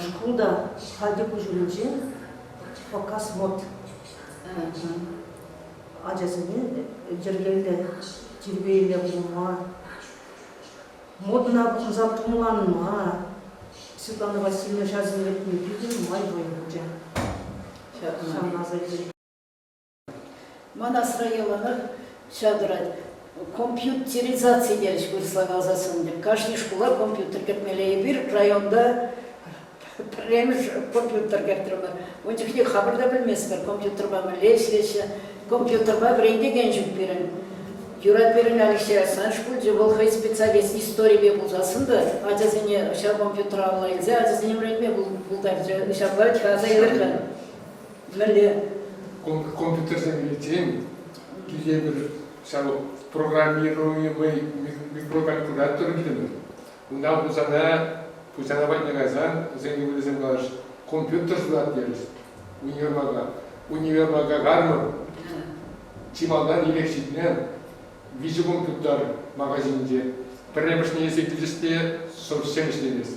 шкул та хальти куҫумӗнче Фоккасмод ачасене йӗркеллӗ, тирпейлӗ пулма, модӑна пухӑнса пумланма, Светлана Васильевна ҫарсем ретне питӗ нумай вӑй хучӗ. Ҫавна асӑнчӗ. Ман асра яланах ҫав тӑрать. Компьютеризаци терӗҫ вырӑсла каласа ун пек. Кашни шкула компьютер кӗртмелле. Эпир районта пӗрремӗш компьютер кӗртрӗмӗр. Ун чухне хамӑр та пӗлместпӗр, компьютерпа мӗнле ӗҫлеҫҫӗ. Компьютерпа вӗрентекен ҫук пирӗн. Юрать пирӗн Алексей сан шкулчӗ, вӑл хӑй специалист историпе пулсассӑн та ачасене ҫав компьютера алла илсе ачасене вӗрентме пултарчӗ. Ҫапла ача аса илӗрлӗ. Мӗнле? Компьютерсем илсен тетепӗр ҫав программируемый микрокалькулятор килнӗ. Унта пусана пусана патне кайсан вӗсен ывӑлӗсем калаҫ компьютер шутлат терӗҫ универмага. Универмага кармӑн чи малтан ирӗк ҫитнӗ виҫӗ компьютер магазинче. Пӗрремӗшне эсӗ килӗш те шӑп ҫӗр ӗҫлемест.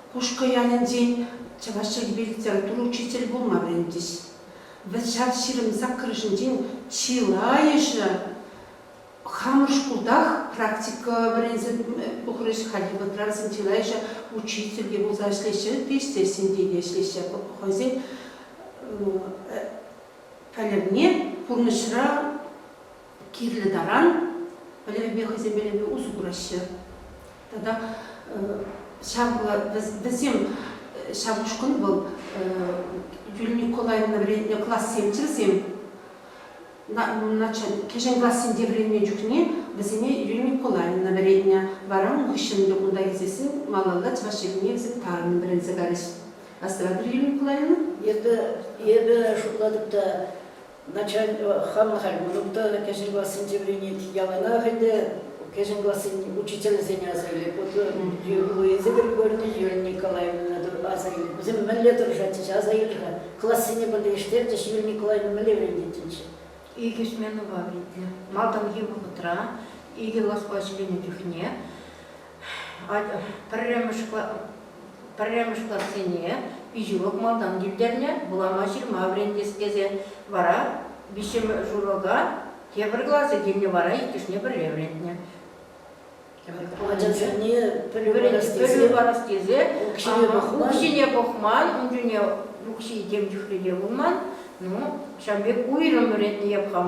Кушкӑ ялӗнчен чӑваш чӗлхипе литература учителӗ пулма вӗрентӗҫ. Вӑт-ҫав ҫирӗм саккӑрӑшӗнчен чылайӑшӗ хамӑр шкултах практика вӗренсе пухрӗҫ. Хальхи вӑхӑтра вӗсем чылайӑшӗ учитель те пулса ӗҫлеҫҫӗ, пичетсенче те ӗҫлеҫҫӗ. Хӑйсен пӗлӗвне пурнӑҫра кирлӗ таран пӗлӗвпе хӑйсен пӗлӗвӗ усӑ кураҫҫӗ. Тата ҫав вӗсем ҫав ушкӑн вӑл Юлия Николаевна вӗрентнӗ классемччӗ вӗсем. Кӗҫӗн классенче вӗренмен чухне вӗсене Юлия Николаевна вӗрентнӗ. Вара ун хыҫҫӑн ӗнтӗ кунта илсессӗн малалла чӑваш чӗлхине вӗсем тарӑн вӗренсе карӗҫ. Астӑватӑр, Юлия Николаевна? Эпӗ шутлатӑп та, начальство хам халь мӑнук та кӗҫӗн классенче вӗренет, яланах ӗнтӗ кӗҫӗн классен учительсене аса илет. Вот Луиза Григорьевна Юрия аса илет. Вӗсем мӗнле тӑрӑшатчӗҫ, аса илӗ-ха. Классене пӗрлештерчӗҫ, Юрий Николаевна мӗнле вӗрентетчӗҫ? Икӗ сменӑпа вилнӗ. Малтанхи вӑхӑтра икӗ класпа ӗҫленӗ чухне Пӗрремӗш классене пиҫулӑх малтан тӳлтернӗ, вулама-ҫырма вӗрентес тесе вара виҫҫӗмӗш урока тепӗр класӗ килнӗ вара иккӗшне пӗрле вӗрентнӗ. Ачан чухне пӗлӳ парас тесе укҫине пӑхман, ун чухне укҫи тем чухлӗ те пулман. Ну, ҫавӑн пек уйрӑм вӗретнӗ япхам.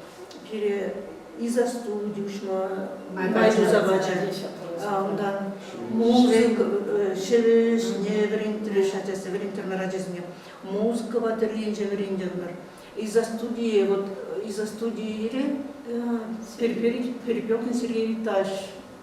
пире изостуд уҫма май туса пачӗ. Унтан мозг ҫӗрӗсне вӗрентрӗҫ ачасем, вӗрентрӗмӗр ачасене. Мозгова тӗрринче вӗрентӗмӗр. Изостудие, вот изостудире Перепелин Сергей Ильич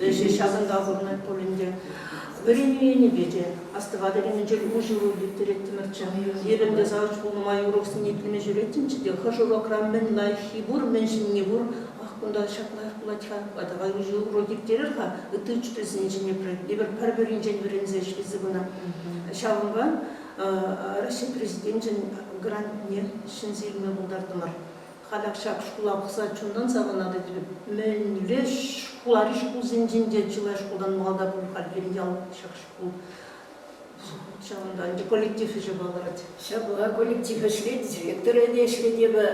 Ӗҫӗ ҫакӑнта пурӑнать пуль ӗнтӗ. Вӗренӳ енӗпе те астӑватӑп ӗненчен улшӑну ирттереттӗмӗрччӗ. Эп ӗнтӗ Савӑтпул нумай уроксене итлеме ҫӳреттӗмччӗ те, хӑш урокра мӗн лайӑххи пур, мӗн ҫӗнни пур, ах, кунта ҫак лайӑх пулать-ха, давай уҫӑ урок ирттерер-ха, ытти учительсен чӗнепре эпир пӗр-пӗринчен вӗренсе ӗҫлесе пынӑ. Ҫавӑнпа Раҫҫей Президенчӗн грантне ҫӗнсе илме пултартӑмӑр. Халех ҫак шкула пӑхса чунтан савӑнатӑп. Мӗнле шкулари шкулсенчен те чылай шкултан малтан пуль пирӗн ял ҫак шкул. Ҫавӑнта ӗнтӗ коллектив ӗҫӗ палӑрать. Ҫапла, коллектив ӗҫлет, директора те ӗҫлет. Эпӗ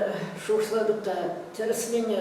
шухӑшлатӑп та тӗрӗсленӗ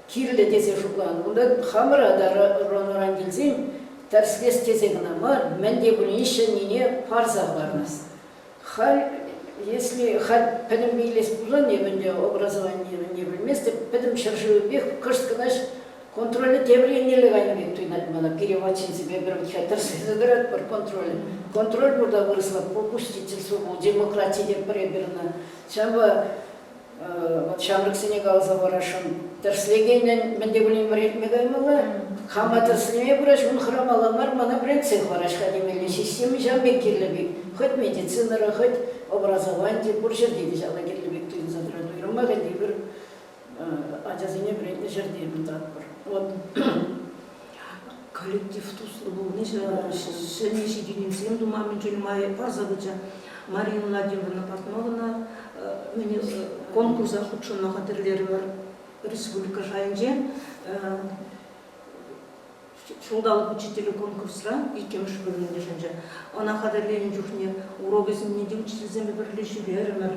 Кирлӗ тесе шутланӑ кунта. Хамӑра та ӑран-ӑран килсен тӗрӗслес тесен кӑна мар, мӗн те пулин ҫӗннине парса хӑвармасть. Халь, если халь пӗтӗм илес пулсан эп ӗнтӗ образованине мӗн те пӗлместӗп, пӗтӗм ҫӗршывӗпех кӑшт кӑнаҫ контролӗ тепӗр еннелле кайнӑ пек туйӑнать мана. Пире вотчинсемпе пӗр вӑтьха тӗрӗслесе тӑратпӑр контролӗ. Контроль пурта вырӑсла, попустительство пул, демократи тетпӗр эпир ӑна. Ҫавӑнпа Вӑт ҫамрӑксене каласа парасшӑн. Тӗрӗслекенӗн мӗн те пулин вӗрентме каймалла. Хама тӗрӗслеме пырать, ун хӑрамалла мар, мана вӗрентсе хӑварать-ха темелли система ҫав пек кирлӗ пек. Хӑть медицинӑра, хӑть образованти пур ҫӗрте те ҫавна кирлӗ пек туйӑнса тӑрать. Уйрӑмах ӗнтӗ эпир ачасене вӗрентнӗ ҫӗрте кунтан пур. Вот коллектив туслӑ пулни ҫӗнӗ ҫитӗнӳсем тума мӗншӗн май парса пычӗ. Мария Владимировна Портнована конкурса хутшӑнма хатӗрлерӗмӗр республика шайӗнче ҫулталӑк учителӗ конкурсра иккӗмӗш вырӑн йышӑнчӗ. Ӑна хатӗрленӗ чухне урок ӗсемне те учительсемпе пӗрле ҫӳрерӗмӗр.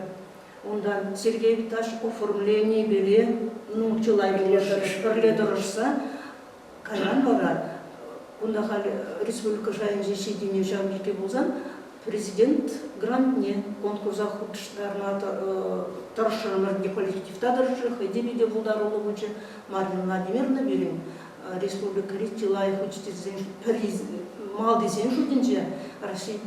Унтан Сергей Виташ оформленипеле ну, чылай пӗрле тӑрӑшса кайран вара кунта халь республика шайӗнче ҫитӗнӳ ҫав тери пулсан президент грантне конкурса хутӑштарма тӑрӑшрӑмӑр. Коллектив та тӑрӑшрӗ, хӑй те питӗ пултаруллӑ пулчӗ. Марина Владимировна пирӗн республикӑри чылай учительсен малтисен шутӗнче Раҫҫей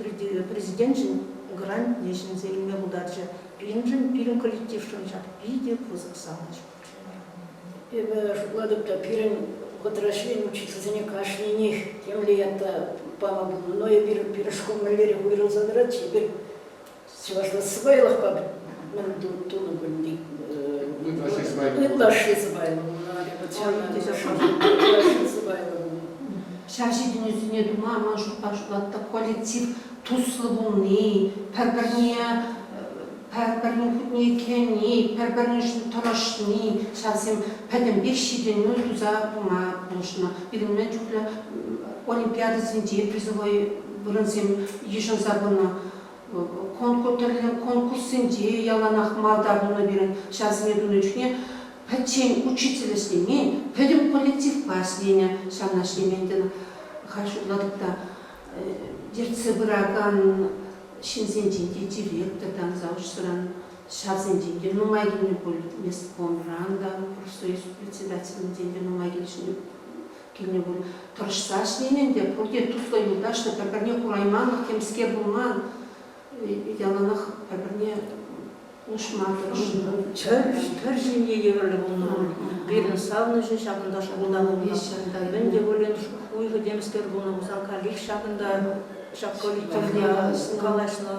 Президенчӗн грантне ҫӗнсе илме пултарчӗ. Пирӗншӗн, пирӗн коллектившӑн ҫак питӗ пысӑк савӑнӑҫ. Эпӗ шутлатӑп та, пирӗн вӑхӑтра ӗҫлекен учительсене кашнинех темле ята пама пулнӑ, но эпир пирӗн шкул мӗнлерех уйрӑлса тӑрать-ши? Эпир чӑвашла сӑпайлӑхпа мӗн тунӑ кун ытлашши сӑпайлӑ ытлашши сӑпайлӑ ҫав ҫитӗнӳсене тума ман шутпа шутлатӑп коллектив туслӑ пулни пӗр-пӗрне пӗр-пӗрин хутне итлени, пӗр-пӗрин ӗҫне тӑрӑшни ҫавсем пӗтӗмпех ҫитӗнӳ туса пыма пулӑшнӑ. Пирӗнме чухлӗ олимпиадӑсенче призовой вырӑнсем йышӑнса пынӑ. конкурссенче яланах малта пулнӑ пирӗн. Ҫавсене тунӑ чухне пӗччен учитель ӗҫлемен, пӗтӗм коллективпа ӗҫленӗ. Ҫавна ӗҫлемен тен, халь шутлатӑп та, ертсе пыракан ҫынсенчен те директортан, заочсӑран ҫавсенчен те нумай килнӗ пуль, месткомран та, профсоюз председателӗнчен те нумай килнӗ Кинӗ пур. Тӑрӑшса ӗҫлемен те, пурте туслӑ юлташлӑ, пӗр-пӗрне курайманлӑх темскер пулман. Яланах пӗр-пӗрне нушма тӑрӑшнӑ. Пӗр ҫемье евӗрлӗ пулнӑ пуль. Пирӗн савнӑҫӗ ҫакӑнта шӑпӑлта пулнӑ. Мӗн те пулин хуйхӑ темскер пулнӑ пулсан каллех ҫакӑнта, ҫак коллективре калаҫнӑ.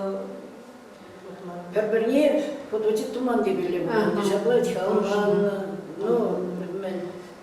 Пӗр-пӗрне фоточек туман текелле пулнӑ. Ҫапла чавӑннӑ. Ну,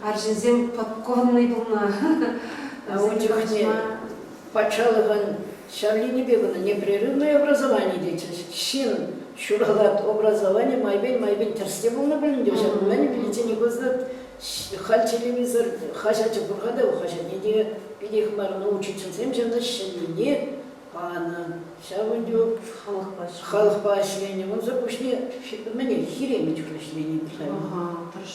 арҫынсем подконнӑй пулма ун чухне патшалӑхӑн ҫар енӗпе кӑна непрерывное образование тетчӗҫ. Ҫын ҫуралать, образование майпен-майпен тӗрӗслев пулнӑ пулин те, ҫак мӗн виличчен пысӑк халь телевизор хаҫачӗ пур-ха та, хаҫатне те питех мар, но учительсем ҫавна ҫӗннине панӑ. Ҫав ӗнтӗ халӑхпа халӑхпа ӗҫленӗ. Унсӑр пуҫне мӗне хиремӗт ӗҫлени пулать.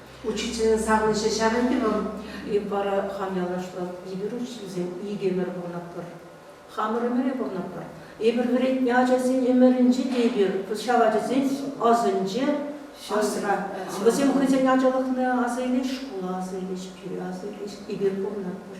Учительсен савӑнӑҫӗ ҫавӑн-и вӑл? Эп вара хам ялашлӑ эпир учительсем икӗ ӗмӗр пурӑнатпӑр. Хамӑр ӗмӗре пурӑнатпӑр. Эпир вӗрентнӗ ачасен ӗмӗрӗнче те эпир ҫав ачасен асӑнче асра. Вӗсем хӑйсен ачалӑхне аса илеҫҫӗ, шкула аса илеҫҫӗ, киле аса илеҫҫӗ. Эпир пурӑнатпӑр.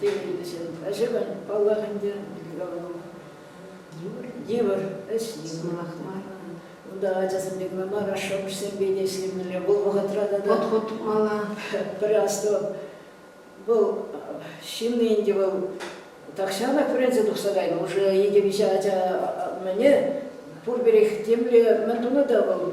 техникӑҫӑн ӗҫӗвӗ, паллах ӗнтӗ, йывӑр ӗҫ, йывӑрлӑх мар. Унта ачасемпе кӑна мар, ашшӗ-амӑшсемпе те ӗҫлемелле. Вӑл вӑхӑтра тата подход тупмалла. Пӗр асту, вӑл ҫынни ӗнтӗ вӑл тахҫанах вӗренсе тухса кайнӑ. Уже икӗ-виҫӗ ача мӗне пурпӗрех темле мӗн тунӑ та вӑл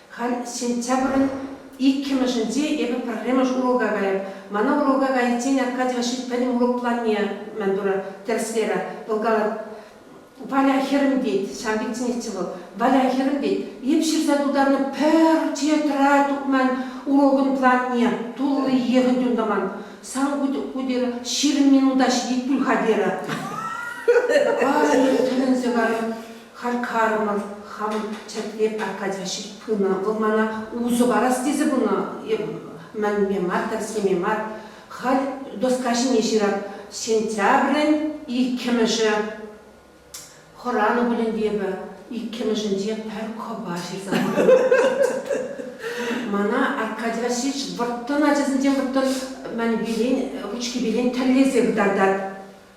Халь сентябрӗн иккӗмӗшӗнче эпӗ пӗрремӗш урока кайӑп. Мана урока кайиччен Аркадьева ҫеҫ пӗтӗм урок планне, мӗн турӑ, тӗрӗслерӗ. Вӑл калать, Валя хӗрӗм тет, ҫав пӗчченехчӗ вӑл, Валя хӗрӗм тет, эп ҫырса тултарнӑ пӗр тетра тупман урокӑн планне, тулли йӑхӑн юн тӑман. Сан ку терӗ, ҫирӗм минута ҫитет пуль-ха терӗ. Халӗ тӗлӗнсе карӑм. Харкарова хам чӗртме Аркадьевич пынӑ. Вӑл мана усӑ парас тесе пынӑ. Эп мӗнпе мар, тӗрӗслеме мар. Халь доска ҫине ҫырап. Сентябрӗн иккӗмӗшӗ хӑранӑ пулин те эпӗ иккӗмӗшӗнче пӗр кӑпа ҫырса патӑм. Мана Аркадий Васильевич вӑрттӑн ачасенчен вӑрттӑн мӗн вилен, вучки вилен тӗллесе кӑтартать.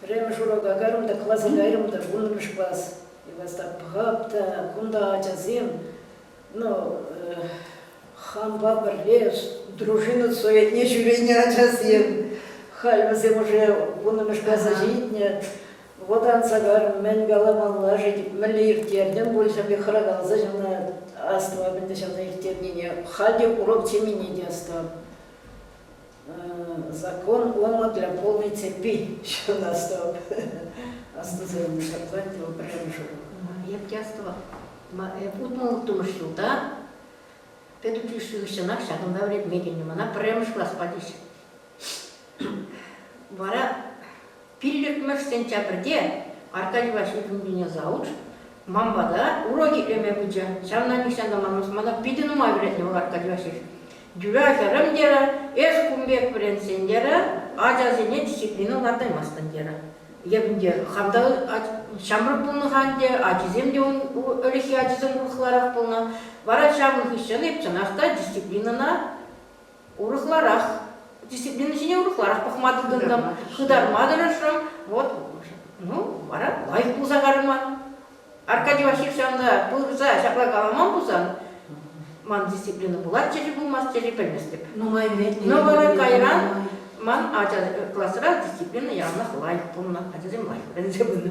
Пӗрремӗш урока кайрӑм та класа кайрӑм та вуннӑмӗш класс. И вас так пӑхап кунта ачасем, ну, хампа пӗрле дружина суетне ҫӳренӗ ачасем. Халь вӗсем уже вуннӑмӗш класа ҫитнӗ. Вот анса карӑм, мӗн каламалла-ши, мӗнле ирттертӗм пуль, пек хӑракалса ҫавна астӑвап ӗнтӗ ҫавна ирттернине. Халь те урок темене те астӑвап. Закон ОМО для полной цепи ҫырнӑ стоп. Астусӑр мушатлать вӑл пӗрремӗш урок. Эп те астӑвам. Эп утмӑл-улттӑмӗш ҫулта педучилище хыҫҫӑнах ҫакӑнта вӗренме килнӗ. Мана пӗрремӗш класспа теҫҫӗ. Вара Пиллӗкмӗш сентябрьте Аркадийпа ҫитӗнкене завуч ман пата урок итлеме пычӗ. Ҫавна нихҫан та манмасть, мана питӗ нумай вӗрентнӗ вӑл Аркадийпа ҫеҫ. Тӳре хӗрӗм, терӗ, эс кун пек вӗрентсен, терӗ, ачасене дисциплина лартаймастӑн, терӗ. Эп ӗнтӗ хам та ҫамрӑк пулнӑ-ха ӗнтӗ, ачисем те ун ӗлӗкхи ачисем урӑхларах пулнӑ. Вара ҫавӑн хыҫҫӑн эп чӑнах та дисциплинӑна урӑхларах дисциплина ҫине урӑхларах пӑхма тытӑнтӑм хытарма тӑрӑшрӑм вот ну вара лайӑх пулса карӑман Аркадий Васильевич ҫанга пырса ҫапла каламан пулсан ман дисциплина пулатчӗ-ши пулмастчӗ-ши пӗлместӗп нумай но вара кайран ман ача класра дисциплина яланах лайӑх пулнӑ ачасем лайӑх вӗренсе пынӑ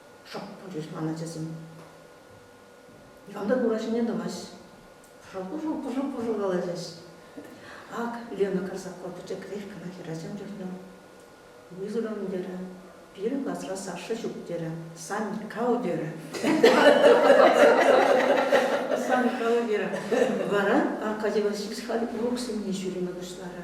шӑп пулчӗҫ ман ачасем. Никам та ура ҫине тӑмасть. Пӑшӑл-пӑшӑл пӑшӑл-пӑшӑл калаҫаҫ. Ак Лена Карсакова пӗчӗкрех кӑна хӗрачам чухне вызовем терӗ. Пирӗн класра Саша ҫук терӗ. Сан кал терӗ. Сан кал терӗ. Вара Аркадий Васильевич халь уроксене ҫӳреме пуҫларӗ.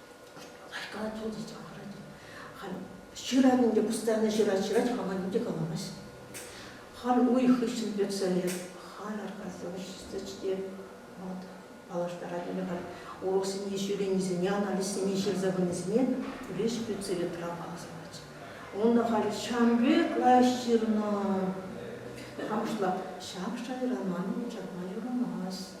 Кашкалать вӑл те чакарать. Халь ҫыравин те кустарне ҫырать, ҫырать, каланин те каламасть. Халь уйӑх хыҫҫӑн персе лет, халь аркаса вӗҫсе вӑл паллаштарать. Ӗнтӗ халь уроксене ҫӳренисене, анализсене ҫырса пынисене леш пӳцере травма асӑнать. Унта халь ҫам пек лаҫ ҫырнӑ. Хам шла, ҫак шайра манӑн чакма юрамасть.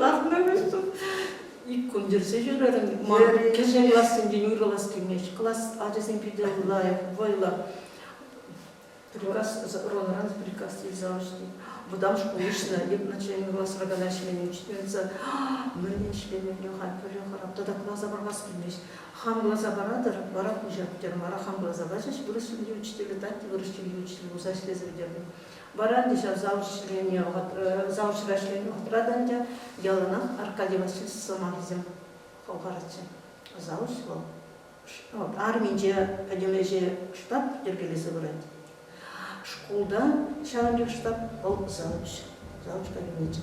Ларнӑ вӗҫсем ик кун йӗрсе ҫӳрерӗм. Ман кӗҫӗн классенчен уйрӑлас килмест. Класс ачасем питӗ лайӑх, вӑйлӑ. Приказ, ролран приказ илсе алӑҫни. Вӑтам шкул уҫнӑ, начальник класра кана ӗҫлемен, ҫитменсе, мӗн ӗҫлемен, йӑха, пӗле хӑрап. Тата класа парас килмест. Хам класа паратӑр, вара хуҫа пӗтермӗ. Вара хам класа пачӗҫ, вырӑс чӗлхи учителӗ, татти вырӑс чӗлхи учителӗ пулса ӗҫлесе пӗтернӗ. Вара те ҫав залҫра ӗҫленӗ вӑхӑтра та ӗнтӗ яланах Аркадий Васильевич сӑмахӗсем хӑлхаратчӗ. Залҫ вӑл арминче пӗтӗм ӗҫе штаб йӗркелесе пырать. Шкулта ҫавӑн пек штаб вӑл залҫ, залҫ кабинечӗ.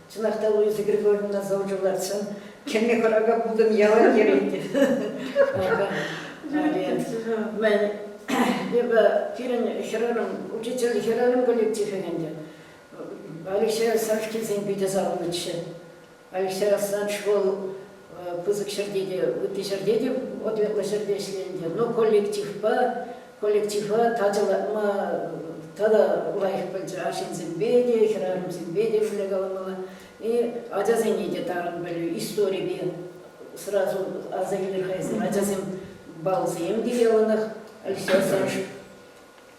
Чӑнах та Луиза Григорьевна завучӗ лартсан кӗнӗ хӑрака путӑн ялан йӗрет те. Эпӗ пирӗн хӗрарӑм, учитель хӗрарӑм коллектив ӗнтӗ. Алексей Савкинсен питӗ савӑнӑҫчӗ. Алексей Рассадж вӑл Пысӑк ҫӗрте те, ытти ҫӗрте те ответлӑ ҫӗрте ӗҫленӗ, но коллективпа коллектива татӑлатма тата лайӑх пӗлчӗ. Арҫынсемпе те, хӗрарӑмсемпе те ӗҫле каламалла. И ачасене те тарӑн пӗлӳ, историпе сразу аса илер-ха эсир. Ачасем баллсем те яланах, Алексей Александрович.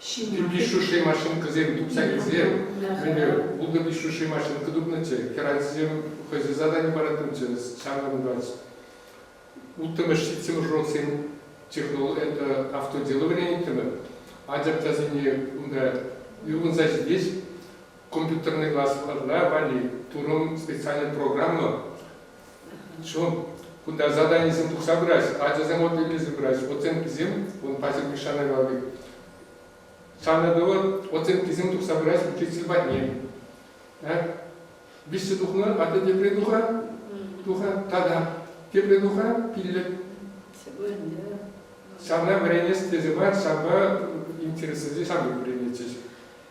Ҫын пирки шӳрши машинкӑсем тупса килсе, мӗнле, пултӑр те шӳрши машинка тупнӑччӗ, хӗрарӑмсем хӑйсен задани парать унччен, ҫавна курать. Улттӑмӗш ҫитсен ужротсен это автоделывание иккӗмӗр, анчах часене унта ывӑнса ҫитет компьютерный классларра валли турӑм специальная программа, Ҫук, кунта заданисем тухса пырать, ачасем от илсе пырать, оценкисем, вон паҫӑр Мишана кални. Санатова оценкисем тухса пырать учитель патне. Виҫсе тухнӑ, атя тепре тухар, тухар, тата тепре тухар, пиллӗк. Ҫавна вӗренес тесе мар, ҫавна интереслӗ ҫавна вӗренетчӗҫ.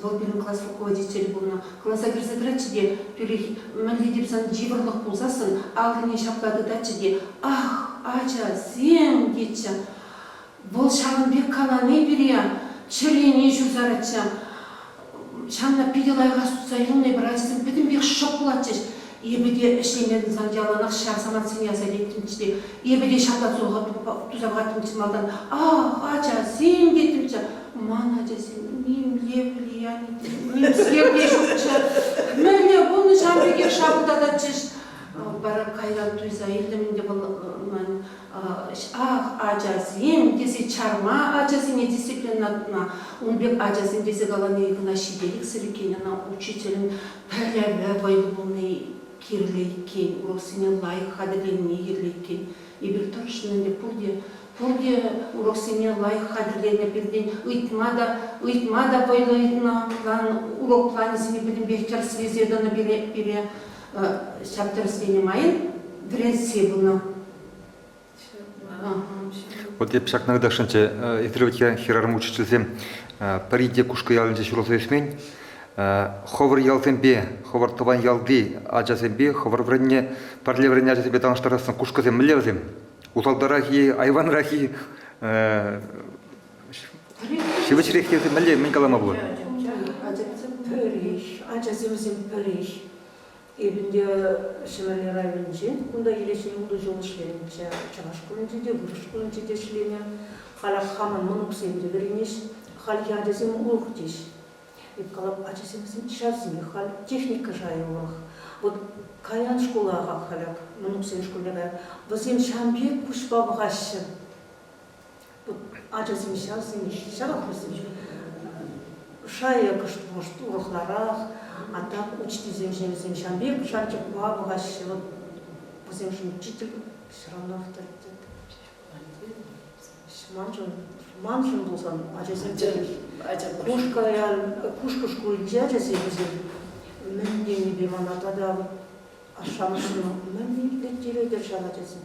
Вӑл пирӗн класс руководителӗ пулнӑ. Класа кӗрсе тӑратчӗ те, тӳрех мӗнле те пулсан йывӑрлӑх пулсассӑн аллине ҫапла тытатчӗ те, Ах, ачасем! тетчӗ. Вӑл ҫавӑн пек калани пире чӗрене ҫуртаратчӗ. Ҫавна питӗ лайӑхах тытса илме пӗр ачасем пӗтӗмпех шӑп пулатчӗҫ. Эпӗ те ӗҫлемен сан яланах ҫав самантсене аса илеттӗмччӗ те. Эпӗ те ҫартан туса пӑхаттӑмччӗ малтан. Ах, ачасем тетӗмччӗ. Ман ачасем нимле влияни те, нимсӗр те ҫукчӗ. Мӗнле пулнӑ ҫав пекех шапӑлтататчӗҫ. Вара кайран туйса илтӗм ӗнтӗ вӑл ман ах ачасем тесе чарма ачасене дисциплинӑна ун пек ачасем тесе калани кӑна ҫителӗксӗр иккен ӑна учителӗн Пӗрремӗ вӑй пулни кирлӗ иккен, уроксене лайӑх хатӗрленни кирлӗ иккен. Эпир тӑрӑшнӑ ӗнтӗ пурте. Пурте уроксене лайӑх хатӗрленӗ пиртен ыйтма та вӑйлӑ ыйтнӑ план, урок планӗсене пӗтӗмпех тӗрӗс илсе тӑнӑ пире. Ҫак тӗрӗсленӗ майӑн вӗрентсе пынӑ. Вот эп ҫакна кӑтартсанччӗ. Эсир вӗт хӗрарӑм учительсем пӗри те Кушкӑ ялӗнче ҫуралса ӳсмен. Хӑвӑр ялсемпе, хӑвӑр тӑван ялти ачасемпе, хӑвӑр вӗренне, пӗрле вӗреннӗ ачасемпе танлаштарассан кушкӑсем мӗнле вӗсем? Усалтарах-и, айванрах-и? Ҫивӗчрех тесе мӗнле, мӗн калама пулать? Ачасем пӗрех, ачасем вӗсем пӗрех. Эпӗ ӗнтӗ Ҫӗмӗрле районӗнче, кунта киле ҫӗнӗ ултӑ ҫул ӗҫленӗччӗ. Чӑваш шкулӗнче те, вырӑс шкулӗнче те ӗҫленӗ. Халех хамӑн мӑнуксем те вӗренӗҫ. Хальхи ачасем урӑх теҫ. Эп калап, ачасемсем ҫавсемех халь техника шайӗ урӑх. Вӑт каян шкула халех мӑнуксен шкулне каять. Вӗсем ҫавӑн пек куҫпа пӑхаҫҫӗ. ачасем ҫавсем ҫав атлӑсем ҫук шайӗ кӑшт урӑхларах а так учительсемшӗн вӗсем ҫавӑн пек шанчӑкпа пӑхаҫҫӗ вӗсемшӗн учитель все равно авторитет маншӑн маншӑн пулсан ачасем Пушкаян Пушкӑ шкулӗнчи ачасем вӗсем мӗн тенипе мана тата ашшӗ-амӑшне мӗн итлеттеретӗр ҫав ачасем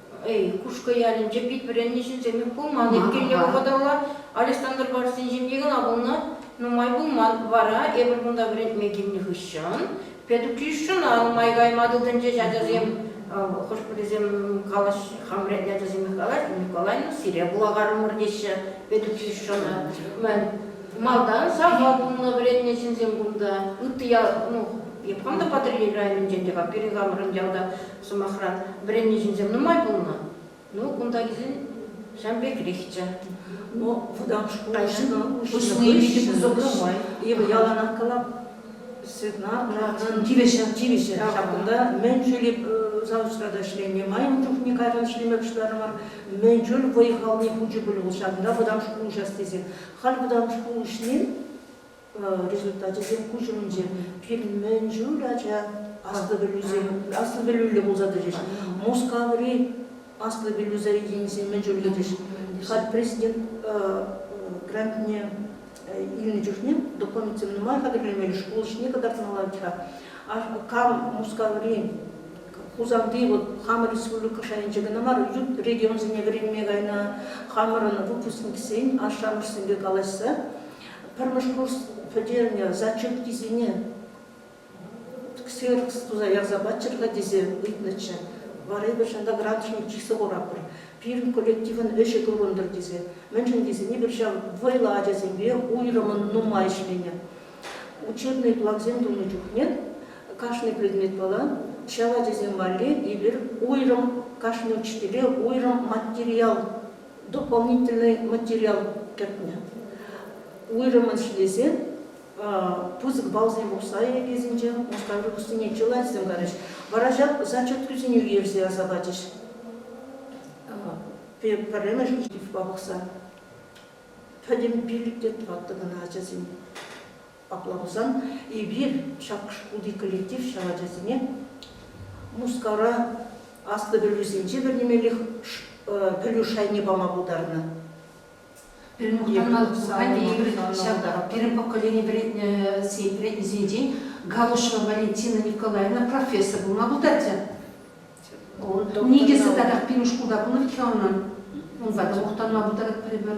Эй, Кушкӑ ялӗнче пит вӗреннӗ ҫынсем пулман иккен те вӑхӑталла. Александр Барсин ҫемье кӑна пулнӑ, нумай пулман. Вара эпир кунта вӗрентме килнӗ хыҫҫӑн педучилищӑна нумай кайма тытӑнчӗҫ ачасем. Хӑш-пӗрисем калаҫҫӗ, хам вӗрентнӗ ачасемех калаҫҫӗ, Николай, ну сире вулакарӑмӑр теҫҫӗ педучилищӑна. Малтан сахал пулнӑ вӗреннӗ ҫынсем кунта. Ытти ял, ну, эп хам та Патӑрьел районӗнчен те-ха, пирӗн хамӑрӑн ялта Сӑмахран, вӗреннӗ ҫынсем нумай пулнӑ. Ну, кунта килсен ҫавӑн пекрехчӗ. Вӑтам шкул уҫни питӗ кӑсӑклӑ май. Эпӗ яланах калап, Светлана, тивӗҫӗ, тивӗҫӗ. Ҫак кунта мӗн чуль заочра та ӗҫленӗ, майӑн чухне кайран ӗҫлеме пуҫларӑмӑр. Мӗн чуль вӑй-халне хучӗ пуль вӑл ҫакӑнта вӑтам шкул уҫас тесен. Халь вӑтам шкул уҫни результачӗсем куҫ умӗнче. Пирӗн мӗн чуль ача аслӑ пӗлӳсем, аслӑ пӗлӳллӗ пулса тӑчӗҫ. Мускаври аслӑ пӗлӳ заведенийӗсем мӗн чуллӗ тӑчӗҫ. Халь президент грантне илнӗ чухне документсем нумай хатӗрлемелле, шкул ӗҫне кӑтартмалла-ха. Кам Мускаври Хусанти вот хамӑр республика шайӗнче кӑна мар, ют регионсене вӗренме кайнӑ хамӑрӑн выпускниксен, ашшӗ-амӑшсемпе калаҫса Пӗрмӗш курс пӗтернӗ зачеткисене ксерокс туса ярса паччӑр-ха тесе ыйтнӑччӗ. Вара эпир ҫанта градусник чыса хуратпӑр. Пирӗн коллективӑн ӗҫӗ курӑнтӑр тесе. Мӗншӗн тесен эпир ҫав вӑйлӑ ачасемпе уйрӑмӑн нумай ӗҫленӗ. Учебный плансем тунӑ чухне кашни предметпала ҫав ачасем валли эпир уйрӑм, кашни учителе уйрӑм материал дополнительный материал кӗртнӗ. Уйрӑммӑн ҫитесен пысӑк баллсем пухса лекесенче мускаврухсене чылайсем карӗҫ. Вара ҫак зачеткӑсене уйӑрса ярса пачӗҫ. Пӗрремӗш штифпа пухса. Пӗтӗм пиллӗк те тӑваттӑ кӑна ачасем. Апла пулсан эпир ҫак шкулти коллектив ҫав ачасене Мускавра аслӑ пӗлӳсенче вӗренемеллех пӗлӳ шайне пама пултарнӑ. Пирӗн мухтанмалла ҫак пирӗн поколени вӗреннисенчен Галушева Валентина Николаевна профессор пулма пултарчӗ. Ун никӗсӗ татах пирӗн шкулта пынӑ иккен унӑн. Унпа мухтанма пултаратпӑр эпир.